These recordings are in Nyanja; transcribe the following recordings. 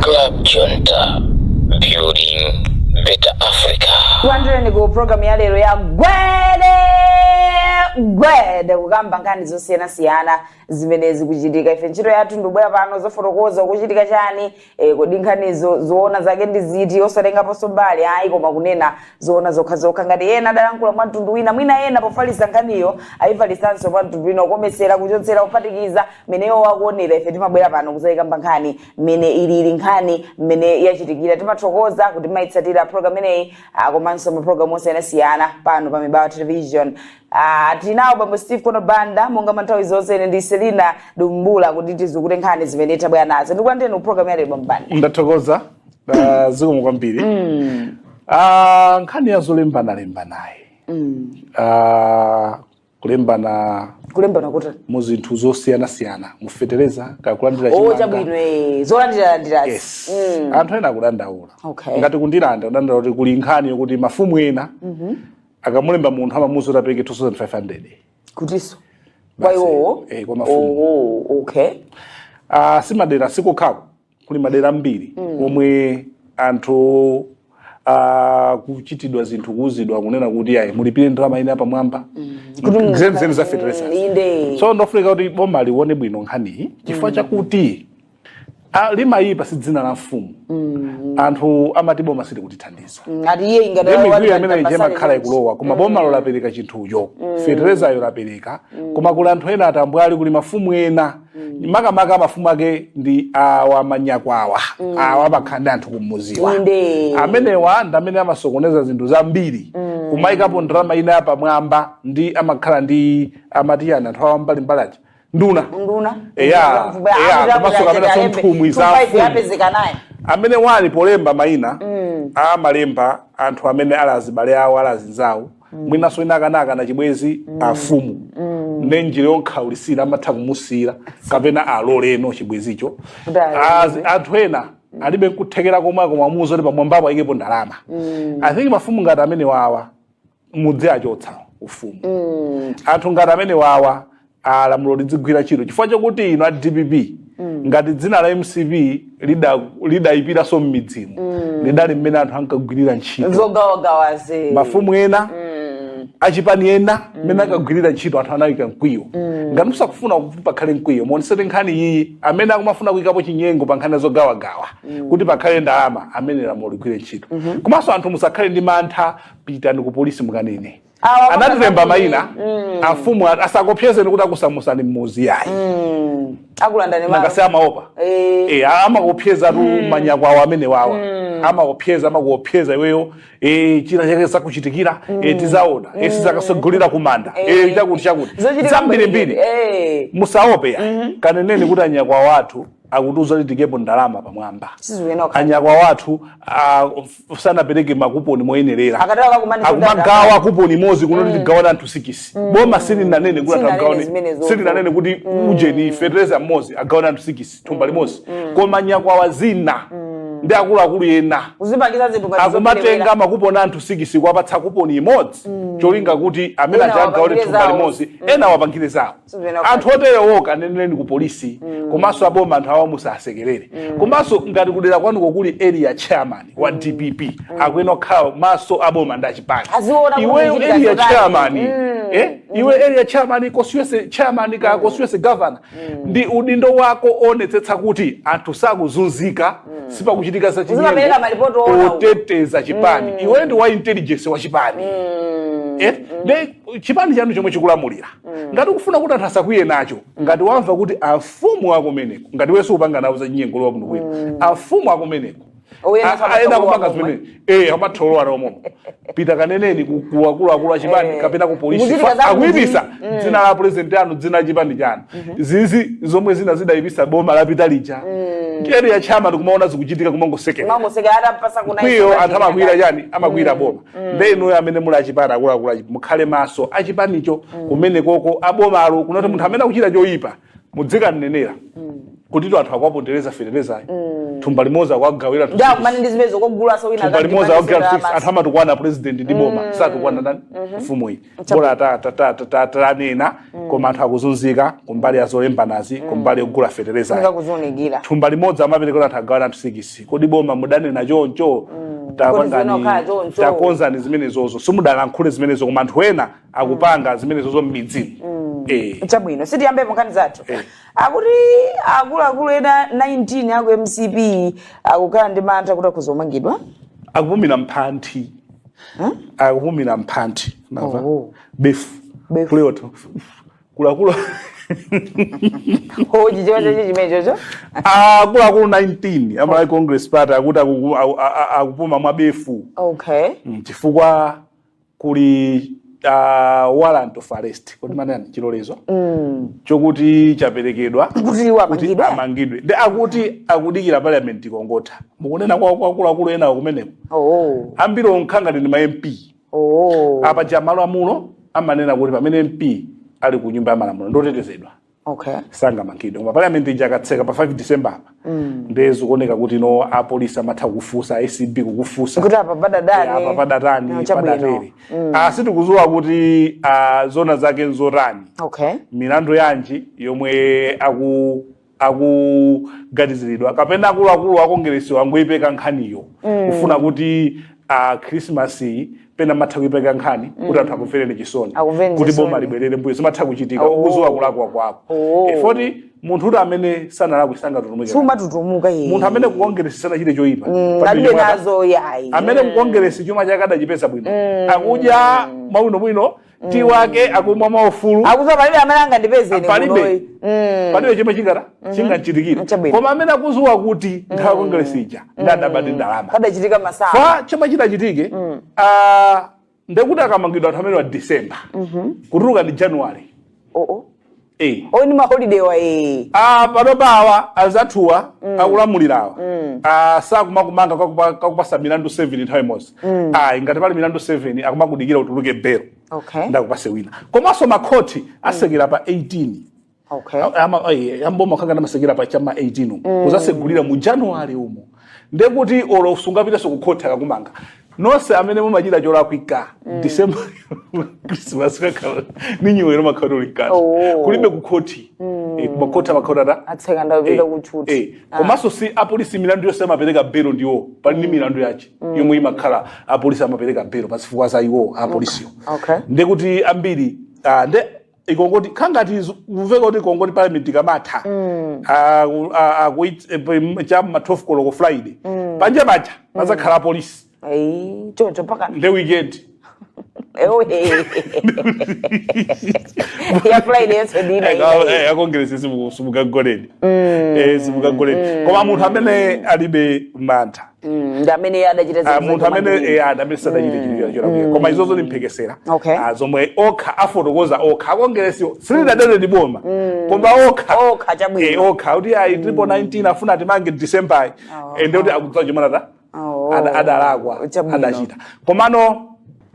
Club Junta, building better Africa. Tikulandireni ku programu ya lero ya gwede gwede kukamba nkhani zosiyanasiyana zimene zikuchitika ife ntchito yathu ndi kubwera pano kuzafotokoza kuchitika chani eh, kodi nkhanizo zoona zake ndi ziti osatengaponso mbali ayi koma kunena zoona zokhazokha ngati ena adalankhula mwa mtundu wina mwina ena pofalitsa nkhaniyo ayifalitsanso mwa mtundu wina kukometsera kuchotsera kuphatikiza mmene iwo akuonera ife timabwera pano kuzayikamba nkhani mmene ilili nkhani mmene yachitikira timathokoza kuti mumayitsatira program imeneyi ah, komanso maprogramu osiyanasiyana pano pa mibawa television ah, tinawo bambo steve kono banda monga manthawi zonse ine ndi selina dumbula kuti tizukute nkhani zimene tabwera nazo ndikulandireni ku program ya lero bambo Banda ndathokoza Ah, zikomo kwambiri mm. ah, nkhani ya zolembana lembanayi mm. ah, kulembana kulembana kuti mu zinthu zosiyanasiyana mufetereza kakulandira o chimanga chabwino eh, zolandiralandirazi yes anthu ena akudandaula Okay. ngati ku Ndirande kudandaula kuti kuli nkhani yokuti mafumu ena akamulemba munthu akumamuuza kuti apereke 2500 kuti kwa Basi, iwowo eh, kwa mafumu. Oh, oh, okay Ah, si madera si kokhako kuli madera ambiri omwe anthu akuchitidwa zinthu kuuzidwa kunena kuti ayi mulipire ndalama ina yapamwamba Kuti zeni zeni za Mm, fertilizer inde. so n'kofunika kuti boma lione bwino nkhaniyi chifukwa chakuti ah, limayipa si dzina la mfumu anthu amati boma silikutithandiza ngati iye ingati Ndi mikwiyo wati imene ija pasali imakhala munthu. ikulowa koma bomalo lapereka chinthucho feterezayo lapereka koma kuli anthu ena atambwali kuli mafumu ena mm. makamaka mafumu ake ndi awa manyakwawa mm. awa amakhala ndi anthu kumudziwa amenewa ndi amene amasokoneza zinthu zambiri mm. kumayikapo ndalama ina yapamwamba ndi amakhala ndi amati chiyani anthu a m'mbalimbali aja nduna nduna eya eya komanso kapenanso nthumwi za amene ali polemba mayina mm. amalemba anthu amene ali azibale awo ali azinzawo mwinanso ena anakakana chibwezi afumu ne njira yomukhaulitsira amatha kumusiyira kapena alole chibwezicho Kuti alole. As- anthu ena alibe nkuthekera komwe akumamuuza kuti pamwambapo ayikepo ndalama i think mafumu ngati amene wawa muziwachotsa ufumu anthu ngati amene wawa lamulo lidzigwira ntchito chifukwa chakuti inu a dpp ngati dzina la mcp lida- lidayipiranso m'midzimu lidali mmene anthu ankagwirira ntchito zogawagawazi mafumu ena achipani ena mmene ankagwirira ntchito anthu anayika mkwiyo ngati musakufuna kuti pakhale mkwiyo muonetsetse nkhani iyi amene akumafuna kuyikapo chinyengo pa nkhani zogawagawa kuti pakhale ndalama amenewo lamulo ligwire ntchito komanso anthu musakhale ndi mantha pitani ku polisi mukanene Awa anatilemba mayina Mm. amfumu ati asakuopyezeni kuti akusamusani mmuzi yayi Mm. akulandani manga si amaopa Eh. Eh, amakuopyezatu manyakwawa amenewawa amakuopyeza amakuopyeza iweyo eh, china chake sakuchitikira eh, tizaona eh, sizakasogolera kumanda eh, chakuti chakuti zambirimbiri Eh. musaope ya kaneneni kuti anyakwawa athu akutiuza kuti tiikepo ndalama pamwamba anyakwawa athu ah, f- sanapereke makuponi moyenerera akumagawa kuponi imodzi kunoti tigawane anthu sikisi boma silinanene kuti silinanene kuti ujeni fetereza mmodzi agawane anthu sikisi thumba limodzi koma nyakwawa zina ndi akuluakulu ena akumatenga makuponi anthu sikisi kuwapatsa kuponi imodzi cholinga kuti amene aja agawane thumba limodzi ena wapangire zawo anthu oterewo kaneneni ku polisi komanso aboma anthu awa musasekerere komanso ngati kudera kwanuko kuli area chairman wa dpp akuyenera kukhala maso aboma ndi achipani iweyo area chairman Mm. eh, iwe area chairman constituency chairman kaya constituency governor ndi udindo wako woonetsetsa kuti anthu sakuzunzika sipakuchitika za chinyengo oteteza chipani iwe ndi wa intelligence wa chipani eh, nde chipani chanu chomwe chikulamulira mm. ngati ukufuna kuti anthu asakwiye nacho ngati wamva kuti amfumu akumeneko ngati iweso upanga nawo zachinyengo lowa kuno kwina mm. amfumu akumeneko ena akupanga zimene eh amatholowa nawo momo pita kaneneni kuwakuluakulu achipani eh. kapena ku polisi akuipisa mm. dzina la president anu dzina la chipani chanu mm-hmm. zizi zomwe zina zidaipisa boma lapita lija mm. area chairman ndikumaona zikuchitika kumangosekera mkwiyo anthu amakwiyira chani amakwiyira mm. boma nde inuyo amene muli achipani akuluakulu achi- mukhale maso achipanicho kumenekoko abomalo kunoti munthu amene akuchita choyipa mudzikanenera kutitu anthu akuwapondereza feterezayo thumba limodzi akuwagawira ndakumana ndi zimenezo kogulaso wina thumba limodzi akuwagawira anthu amatukwana president ndi boma satukwana ndani mfumuyi bola ta- tanena koma anthu akuzunzika kumbali ya zolembanazi kumbali yogula fetereza funika kuzionekera thumba limodzi amaperekera anthu agawana anthu sikisi kodi boma mudanena choncho? takonzani zimenezozo simudalankhule zimenezo koma anthu ena akupanga zimenezozo m'midzimu Eh. chabwino sitiyambepo nkhani zathu Eh. akuti akuluakulu ena 19 aku mcp akukhala ndi mantha kuti akuzamangidwa akupumira mphanthi hmm? akupumira mphanthi mwa befu kuleoto kulakula hoji chonse chi chimenechocho akuluakulu 19 a malawi congress party akuti akupuma mwabefu okay mm, chifukwa kuli uh, warrant of arrest kodi manani chilolezo mm. chokuti chaperekedwa kuti amangidwe ndi akuti akudikira parliament ikongotha mukunena kwa akuluakulu enawo kumeneko oh. ambiriwo nkhangati ndi ma mp oh. paja malamulo amanena kuti pamene mp ali ku nyumba ya malamulo ndotetezedwa okay sangamangidwe koma parliament ija akatseka pa 5 december apa nde zikuoneka kuti no apolisi amatha kufunsa acb kukufunsa kuti apa padatani apa padatani No, chabwino. padatere Ah, sitikudziwa kuti ah, zona zake nzotani okay milandu yanji yomwe aku akuganiziridwa kapena akuluakulu akongeresiwa angoyipeka nkhaniyo kufuna kuti christmas pena umatha kuipeka nkhani kuti anthu akumvereni chisoni Akumvereni kuti chisoni. boma libwerere mbuyo zimatha kuchitika Oh. ukuziwa kulakwa kwako Oh. Eh, foti munthu woti amene sanalakwe sangatutumuke sumatutumuka iye munthu amene kukongeresi sanachite choyipa Mm, Pamene alibe mwana- nazo yayi amene kukongeresi chuma chake adachipeza bwino akudya mwabwinobwino tiyi wake akumwa mwaufulu akuziwa palibe amene angandipeze ine Palibe. kunoyi. Mm. palibe chomwe chingata chingamchitikire Chabwino. koma amene akuziwa kuti nthawi ya kongresi ija ndidabadi ndalama padachitika masaa kwa chomwe chidachitike ah, ndekuti akamangidwa anthu amenewa december kutuluka ndi january oo Eh. o ndi maholidewa ee Ah, panopa awa anzathuwa akulamulirawa Ah, sakumakumanga kakupa- kakupasa milandu 7 nthawi imodzi ayi ngati pali milandu 7 akumakudikira utuluke belo Okay. nde akupase wina komanso makhoti asekera pa 18 okay amboma khangati amasekera pa cha ma 18 umu. kuzasegulira mu january umu ndiye kuti olo sungapiteso kukhoti akakumanga nonse amene mumachita cholakwika mm. december christmas kakhala ni new year mukhala muli mkati Oh. kulibe kukhoti mm. e, kumakhoti amakhala atatseka ndapita kutchuti Eh, komanso si apolisi milandu yonse amapereka belo ndiwo pali ndi milandu yache yomwe imakhala apolisi amapereka belo pazifukwa za iwo apolisiwo Okay. ndekuti ambiri ah, nde ikongoti khangati kuveka kuti ikongoti parliament ikamatha aku- a- akuit- eh, pem- cha ma 12 koloko friday panja paja pazakhala apolisi Ayi, choncho mpaka nde weekend ewe ya friday yenso ndina ina akongeresi simukagoleni simukagoleni koma munthu amene alibe mantha Mm, ndi amene iye adachita Ah, zinthu munthu amene zomangira. eh, amene sadachite chilipira cholakwira koma izozo ndimphekesera Okay. Ah, zomwe okha afotokoza okha akongeresiwo silidanene ndi boma koma okha Okha, chabwino. Eh, okha kuti ayi triple 19 afuna atimange december Oh. ende kuti akudziwa chimene Oh. adalakwa Chabwino. adachita komano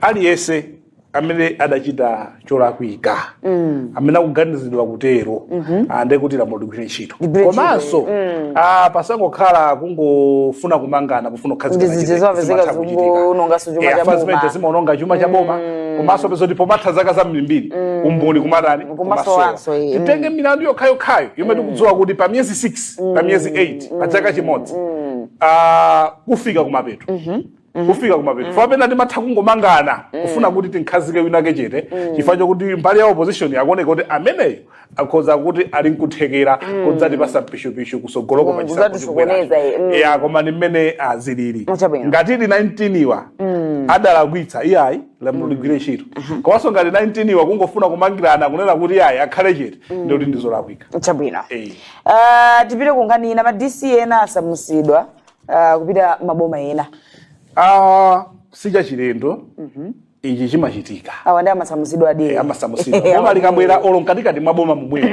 aliyense amene adachita cholakwika mm. amene akuganizidwa kutero mm -hmm. Ah, ande kuti lamulo ligwire ntchito komanso mm. Ah, pasangokhala kungofuna kumangana pofuna kukhazika zimenezo zimaononga chuma cha boma mm. komanso upeza kuti pomatha zaka zambirimbiri mm. umboni kumatani kumasowa titenge mm. milandu yokhayokhayo yomwe mm. tikudziwa kuti pa miyezi 6 mm. pa miyezi 8 mm. pa chaka chimodzi mm. uh, kufika kumapeto mm -hmm kufika kumapeto mm. pamene timatha kungomangana mm. kufuna kuti tinkhazike winake chete mm. chifukwa chokuti mbali ya opposition akuoneka kuti ameneyo akhoza kuti ali nkuthekera mm. kudzatipatsa pishupishu kusogoloko mm. pachisankho chikubweracho mm. ya koma ndi mmene zilili ah, ngati ndi 19 awa mm. adalakwitsa iyayi lamulo mm. ligwire ntchito mm-hmm. komanso ngati 19 awa kungofuna kumangirana kunena kuti iyayi akhale chete mm. ndi kuti ndizolakwika chabwino hey. uh, eh. ah, tipite kunkhani ina ma dc ena asamusidwa uh, kupita maboma ena uh, sichachilendo mm -hmm. ichi chimachitika awa ndi amasamuzidwa de eh, amasamuzidwa boma likabwera olo mkatikati mwa boma momwemo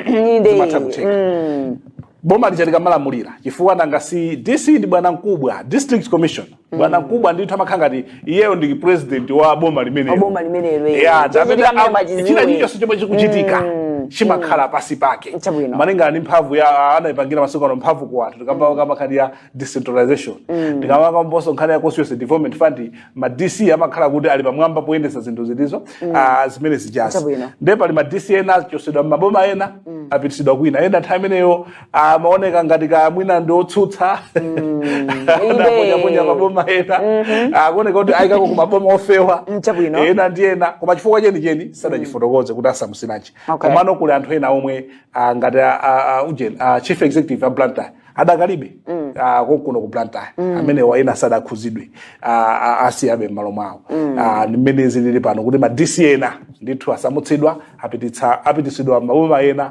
zimatha kutheka mm. boma lija likamalamulira chifukwa nanga si dc ndi bwana mkubwa district commissioner mm. bwana mkubwa ndithu amakhala ngati iyeyo ndi president wa boma limenelo Boma limenelo, eh. Yeah, Choncho amene tikamene am- machiziwe. china chilichonse chomwe chikuchitika Mm, chimakhala pansi pake Chabwino. malingana ndi mphamvu ya anayipangira masiku ano mphamvu ku anthu tikamba kamba nkhani ya decentralization tikamba kambanso nkhani ya constituency development fund ma dc amakhala kuti ali pamwamba poyendesa zinthu zimenezo ah, zimene zijazi Chabwino. nde pali ma dc ena achosedwa m'maboma ena apitisidwa kwina ena nthawi imeneyo amaoneka ngati kaya mwina ndi otsutsa adaponyaponya maboma ena akuoneka kuti ayikidwako ku maboma ofewa Mm, chabwino. ena ndi ena koma chifukwa chenicheni sadachifotokoze kuti asamusilanji Okay. komano kuli anthu ena omwe ah, ngati ah, ah, ah, ujeni ah, chief executive a blantyre adakalibe ah, konkuno ku blantyre amenewa ena sadakhuzidwe ah, ah, asiyabe m'malo mwawo Ah, ndi mmene zilili pano kuti ma dc ena ndithu asamutsidwa apititsa- apititsidwa maboma ena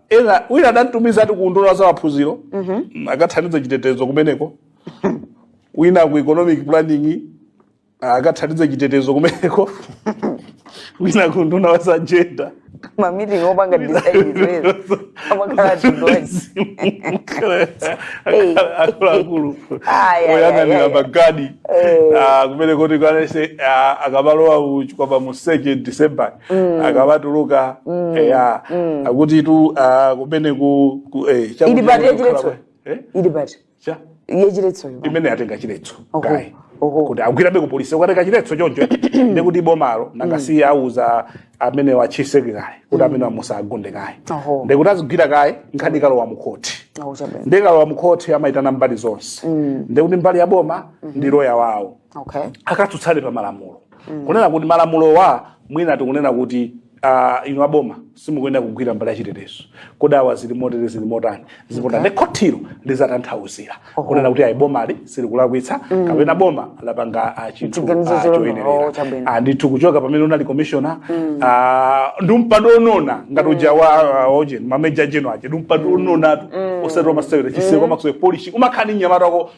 ena wina adamtumiza ati ku unduna wa zamaphunziro mm, akathandize chitetezo kumeneko wina ku economic planning ah, akathandize chitetezo kumeneko wina ku unduna wa za jenda ma meeting opanga decide amakhala advice akuluakulu Ayi, ayi, oyang'anira ayi, ayi. magadi Eh. ah, kumene kuti kanese akamalowa kuchokera pa 2 december Mm. akabatuluka mm. eya mm. akuti ku uh, kumene ku, ku eh, chakuti Ili part kukhala yachiletso? kwa- eh? ili part Cha? yachiletsoyo imene atenga chiletso Oho, kaye oho. kuti agwirabe ku polisi ukatenga chiletso choncho ndi kuti bomalo nanga si awuza amene wa chief secretary kuti amene wamusagunde kaye Oho. ndi kuti azigwira kaye nkhani ikalowa mu khoti akuchabwera ndikalowa mu khoti amayitana mbali zonse ndi kuti mbali ya boma ndi loya wawo okay. akatsutsane pa malamulo mm. kunena kuti malamulowa mwina tikunena kuti uh, inu aboma simukuyenera kugwira mbali ya chitetezo kodi awa zili motere zili motani zipota okay. nde khotilo lizatanthauzira oh. kunena kuti ayi bomali silikulakwitsa mm. kapena boma lapanga uh, chinthu uh, choyenerera oh, uh, ndithu kuchoka pamene unali commissioner mm. uh, ndi mpando onona ngati uja mm. wa uh, oje mameja jeno aje ndi mpando mm. ononatu mm. osati wamasewera chiseko mm. makusewera polishi umakhala ndi anyamata ko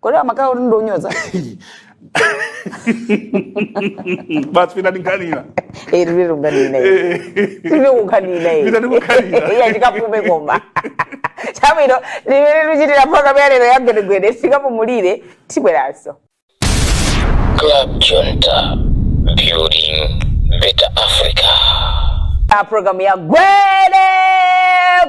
kodi amakhala kuti ndonyoza basi pita ndikhalira Eh, tili tunganina Eh. tili kukhanina Pita ndikukhalira. iya tikapume koma chabwino limene tichitira programu yalero ya gwedegwede tikapumulire tibweranso Club Junta, building better Africa. a programu ya gwede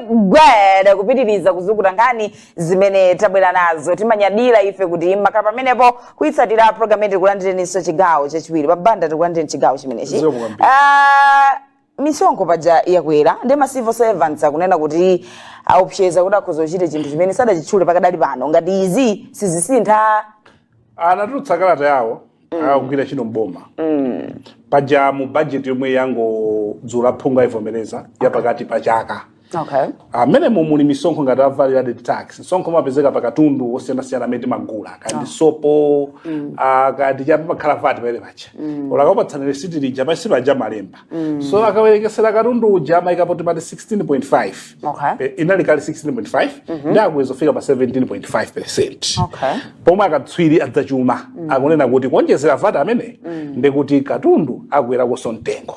gwede kupitiriza kuzukuta nkhani zimene tabwera nazo timanyadira ife kuti makhala pamenepo kuyitsatira program yetu tikulandireninso chigawo chachiwiri a Banda tikulandireni chigawo chimenechi Zikomo kwambiri. Ah, misonkho paja yakwera ndi ma civil servants akunena kuti aopseza kuti akhoza kuchita chinthu chimene sadachitchule pakadali pano ngati izi sizisintha anatulutsa kalata yawo ogwira ntchito mboma paja mu budget yomwe yangodutsa aphungu ayivomereza yapakati pa chaka okay mmenemo muli misonkho ngati a value added tax msonkho umapezeka pa katundu osiyanasiyana amene timagula kaya ndi sopo ah, kaya ndi chani pamakhala VAT pamene paja akakupatsani resiti lija pansi paja amalemba Mm. so akawerengetsera katundu uja amaikapo kuti VAT 16.5 Okay. Eh, inali kale 16.5 nde akweza kufika pa 17.5 percent Okay. pomwe akatswiri a zachuma akunena kuti kuonjezera VAT amene ndekuti katundu akwerakonso mtengo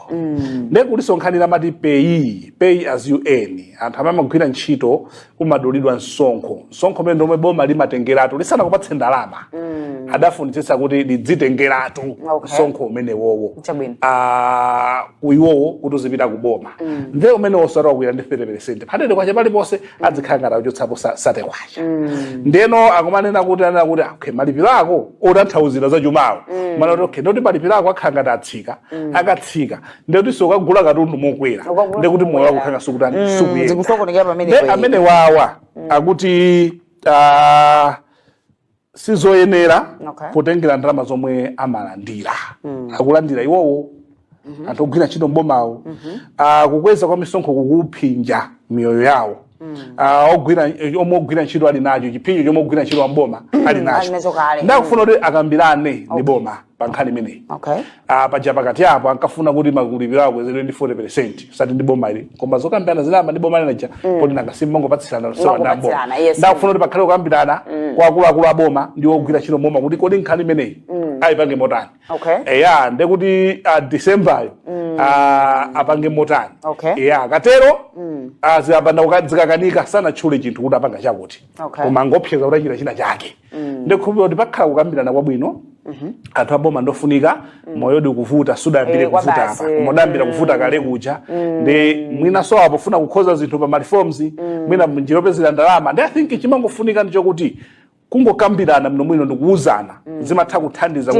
nde kulinso nkhani ija amati pay pay as you earn anthu amene amagwira ntchito umadulidwa msonkho msonkho umene ndi omwe boma limatengeratu lisanakupatse ndalama mm. adafunitsitsa kuti lidzitengeratu okay. msonkho umenewowo ah, kuiwowo kuti uzipita ku boma mm. nde umenewonso wakwera ndi 30 percent patete kwacha paliponse mm. adzikhala ngati akuchotsapo 30 kwacha mm. ndeno akumanena kuti anena kuti ah, okay, malipiro ako otanthauzira za chumawo mm. amanena kuti okay, ndekuti malipiro ako akhala ngati atsika mm. akatsika ndekutinso ukagula katundu mokwera Ukagula ndekuti moyo wako mokwera. ukhala ngati sukutani Mm, sukuyenda zikusokonekera pamene ne payi. amenewawa akuti ah, sizoyenera Okay. potengera ndalama zomwe amalandira akulandira iwowo anthu ogwira ntchito mbomawo Ah, kukweza kwa misonkho kukuphinja miyoyo yawo uh, ogwira omwe ogwira ntchito ali nacho chiphinjo chomwe ogwira ntchito wamboma ali Ali nacho nacho kale. nde akufuna kuti akambirane ndi boma pa nkhani imeneyi Okay. Ah, paja pakati apo ankafuna kuti malipiro akwezedwe ndi 40 percent osati ndi boma ili koma zokambirana zinayamba ndi boma linaja poti nanga si mmangopatsirana lusowa ndi amboma Mangopatsirana, yes. nde akufuna kuti pakhale kukambirana kwa akuluakulu aboma ndi ogwira ntchito mboma kuti kodi nkhani imeneyi ayipange motani Okay. eya ndekuti ah, decemberyo ah, apange motani Okay. eya akatero ah, zikapanda kuka- zikakanika sanatchule chinthu kuti apanga chakuti Okay. koma angoopseza kuti achita china chake ndikhulupira kuti pakhala kukambirana kwabwino anthu aboma ndofunika moyodi, kuvuta sudayambire Eh, kwa kuvuta basi. apa koma udayambira kuvuta kale kuja ndi mwina so apo funa kukonza zinthu pa mareforms mwina njira yopezera ndalama ndi i think chimangofunika ndichokuti kungokambirana bwino bwino ndikuuzana mm. zimatha kuthandiza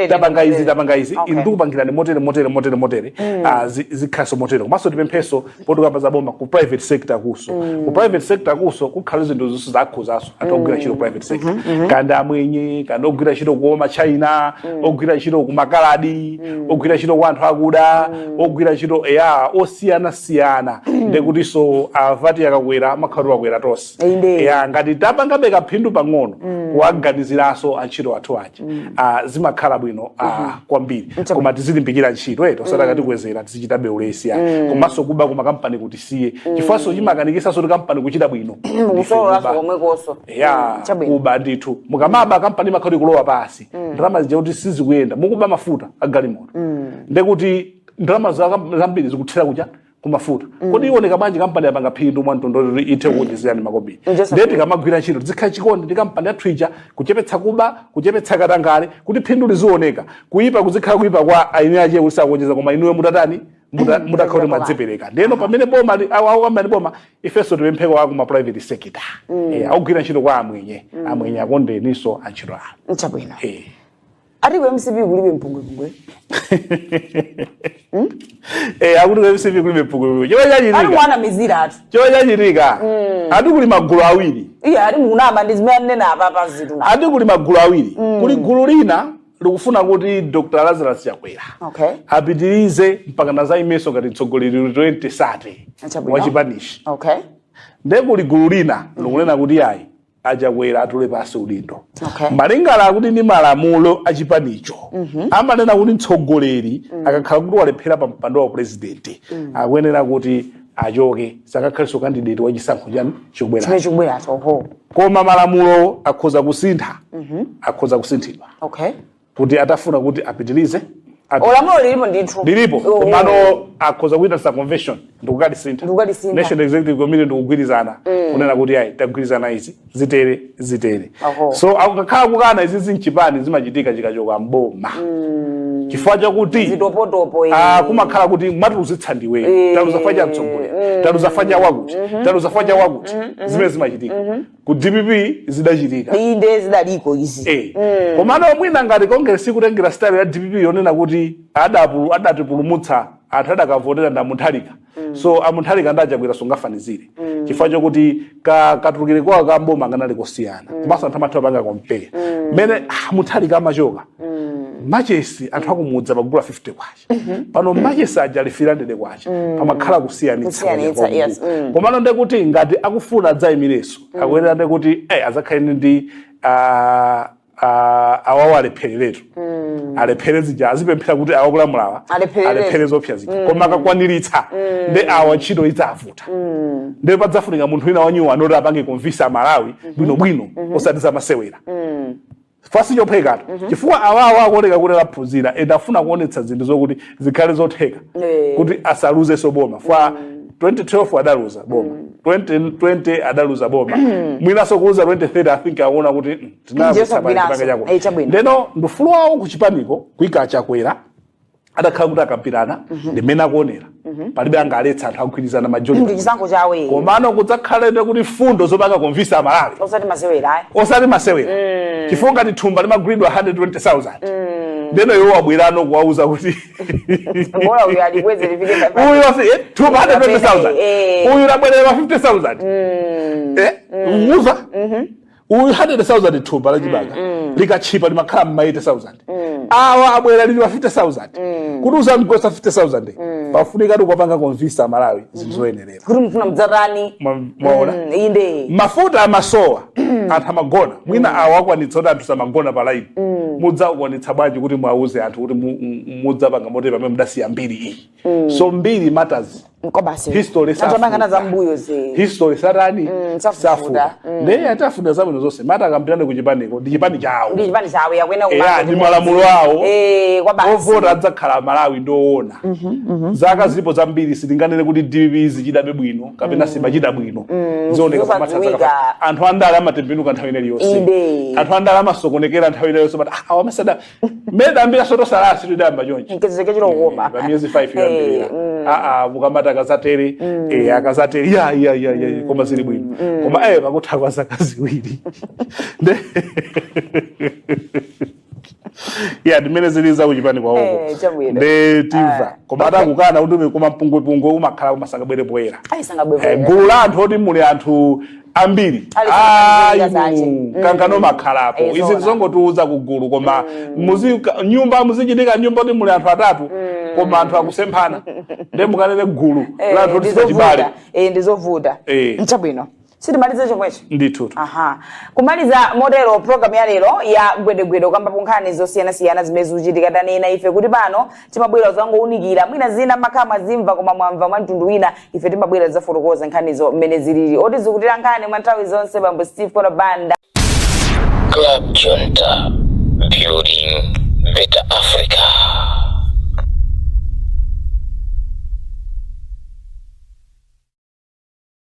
tapanga izi tapanga izi okay. ndikupangirani motere motere motere motere mm. uh, ah, zikhaso motere komanso tipemphenso potukamba za boma ku private sector kuso mm. ku private sector kuso kukhala zinthu zonse zakhuzaso anthu ogwira ntchito private sector mm -hmm. kanda amwenye kanda ogwira ntchito kwa ma China mm. ogwira ntchito kumakaladi mm. ogwira ntchito kwa anthu akuda mm. ogwira ntchito eya osiyana siyana mm. ndekutinso avati ah, ya akakwera amakhala akwera tonse Inde. ya ngati tapangabe kaphindu pang'ono kuwaganiziranso antchito athu aja ah, zimakhala bwino ah, kwambiri Mcham- koma tizilimbikira ntchito eti osati akatikwezera tizichitabe ulesi ya komanso kuba kumakampani kuti tisiye chifukwanso chimakanikisanso kuti kampani kuchita bwino Ndife mukusololanso kuba. komwekonso ya Mm, chabwino kuba ndithu mukamaba kampani imakhala ikulowa pansi ndalama zija kuti sizikuyenda mukuba mafuta agalimoto ndekuti ndalama za- zambiri zikuthera kuja kumafuta mm. kodi iwoneka bwanji kampani yapanga phindu mwa mtondolo kuti ithe mm. kukuonjezerani makobiri ndiye tikamagwira ntchito tizikhala chikondi ndi kampani yathu ija kuchepetsa kuba kuchepetsa katangale kuti phindu lizioneka kuyipa kuzikhala kuyipa kwa eni ache kuti sakuonjeza koma inuyo mutatani mm. mutakhala kuti mwadzipereka ndiyeno pamene boma akukamba ndi boma ifenso tipempheko aku ma private sector eh, akugwira ntchito kwa amwenye amwenye akondeniso antchito awo chabwino eh. ati ku mcp kulibe mpungwepungwe Eh, akuti ku mcp kulibe mpungwepungwe chifukwa ati chachitika monamizira ati chifukwa chachitika ati kuli magulu awiri iye ati mukunama ndi zimene anena apa pa zinthu na ati kuli magulu awiri kuli gulu lina likufuna kuti dr lazarus chakwera okay apitirize mpaka nadzaimenso ngati mtsogoleri 2030 Ah chabwino. wachipanichi okay nde kuli gulu lina likunena kuti ayi a Chakwera atule pansi udindo okay. malingana akuti ndi malamulo a chipanicho mm -hmm. amanena kuti mtsogoleri mm -hmm. akakhala kuti walephera pa mpando wa upresident mm -hmm. akuyenera kuti achoke sakakhalenso kandidate wa chisankho chani chikubweracho koma malamulo akhoza kusintha mm -hmm. akhoza kusinthidwa okay. kuti atafuna kuti apitilize ati- olamulo lilipo ndithu lilipo Oh. komano akhoza kuita za convention ndikukalisintha Ndikukalisintha. national executive committee ndikugwirizana kunena kuti ayi tagwirizana izi zitere zitere Aho. so akakhala kukana izi za mchipani zimachitika chikachoka mboma chifukwa chakuti zitopotopo eh. Ah, kumakhala kuti mwatiluzitsa ndiwe Eh. taluza fwa cha mtsogoleri taluza fwa cha wakuti taluza fwa cha wakuti zimene zimachitika ku dpp zidachitika iyi ndiye zidaliko izi Eh. komano mwina ngati kongresi ikutengera style ya dpp yonena kuti adapu- adatipulumutsa anthu adakavotera ndi a Mutharika so a Mutharika ndi a Chakwera sungafanizire chifukwa chokuti ka- katulukire kwawo ka mboma kanali kosiyana komanso anthu amatha kupanga compare mmene ah, Mutharika amachoka machesi anthu akumudzi akugula 50 kwacha pano machesi aja ali 400 kwacha pamakhala kusiyanitsa Kusiyanitsa, kwenye yes, kongo. mm. komano nde kuti ngati akufuna adzayimireso akuyenera nde kuti eh, adzakhale ndi ah, ah, awawo alephereretu alephere zija azipemphera kuti awa akulamulawa Alepherere. alephere zoopsa zija koma akakwaniritsa nde awa ntchito idzavuta nde padzafunika munthu wina wanyuwani woti apange convince Amalawi bwinobwino osati zamasewera chifukwa sichophwekatu mm -hmm. chifukwa awawo akuoneka kuti aphunzira ende afuna kuonetsa zinthu zokuti zikhale zotheka yeah. kuti asaluzeso boma fwa mm -hmm. 2012 adaluza boma mm. 2020 adaluza boma mm. mwinaso kuluza 2030 i think aona kuti mm, tinazisabaa chipanga chako eh, ndeno ndufulu wawo kuchipaniko kuika chakwera atakhala kuti akambirana mhm. ndi mmene akuwonera mhm. palibe angaletse anthu akugwirizana majority ndi chisankho chawo iye komano kudzakhalebe kuti mfundo zomwe akapanga convince Amalawi osati masewera ayi osati masewera mm. chifukwa ngati thumba limagulidwa 120000 mm. ndeno iwe wabweranso kuwauza kuti bora uyu alikweze lifike uyu wasi eh, thumba 120000 eh. uyu labwera 50000 mm. eh mm. muza mhm mm uyu 120,000 thumba la chimanga likatchipa limakhala mma 80,000 awa abwera lili pa 50,000 kuti uzamugwetse 50,000 pafunika kuti ukapanga convince Amalawi zinthu zoyenerera kuti mufuna mudzatani Mwa- mwaona Mm, inde mafuta amasowa anthu amagona mwina awa akwanitsa kuti anthu samagona pa laini mudzakwanitsa bwanji kuti muwauze anthu kuti mu- mu- mudzapanga motero pamene mudasiya mbiri iyi mm. so mbiri matters history satani mm, safufuta mm. ndiye tiwafunira zabwino zonse ngati akambirane ku chipaniko ndi chipani chawo ndi malamulo awo eh, ovota adzakhala Amalawi ndowona mhm, mhm. zaka zilipo zambiri sitinganene kuti dpp ichitabe bwino kapena mm. siichita bwino zioneka anthu andale amatembenuka nthawi ina iliyonse anthu andale amasokonekera nthawi ina iliyonse ah, mmene idayambira soto salaya situ idayamba chonchi nkuzake chilo koma pa miyezi 5 Eh, yoyambirira mm. aa mukamati akazatele eh, akazatele ya ya ya ya ya, koma zili bwino koma eh pakutha kwa zaka ziwiri Nde- ya ndimmene zilili za kuchipani Eh, kwawoko chabwino. nde timva koma atakukana kuti koma mpungwepungwe umakhala umangosabwera poyera ayisanga Eh, bwevera gulu la anthu loti muli anthu ambiri Ali pa ayi nkhani za ache. mulungu Mm. kukangana kumakhalapo Eh, izi zoona. zongotiuza kugulu koma muzi ka- m'nyumba muzichitika nyumba yoti muli anthu atatu koma anthu akusemphana nde mukanene gulu Eh, la anthu ndizovuta. oti siachibale Eh, ndizovuta Eh. nchabwino titimalize chomwecho ndithu aha kumaliza motero programu ya lero ya gwedegwede kukambapo nkhani zosiyanasiyana zimene zikuchitika tanena ife kuti pano timabwera kuzangounikira mwina zina mumakhala mwazimva koma mwamva mwa mtundu wina ife timabwera kuzafotokoza nkhanizo mmene zilili otisinkhira nkhani mwa nthawi zonse bambo steve kona banda Club Junta, building better Africa.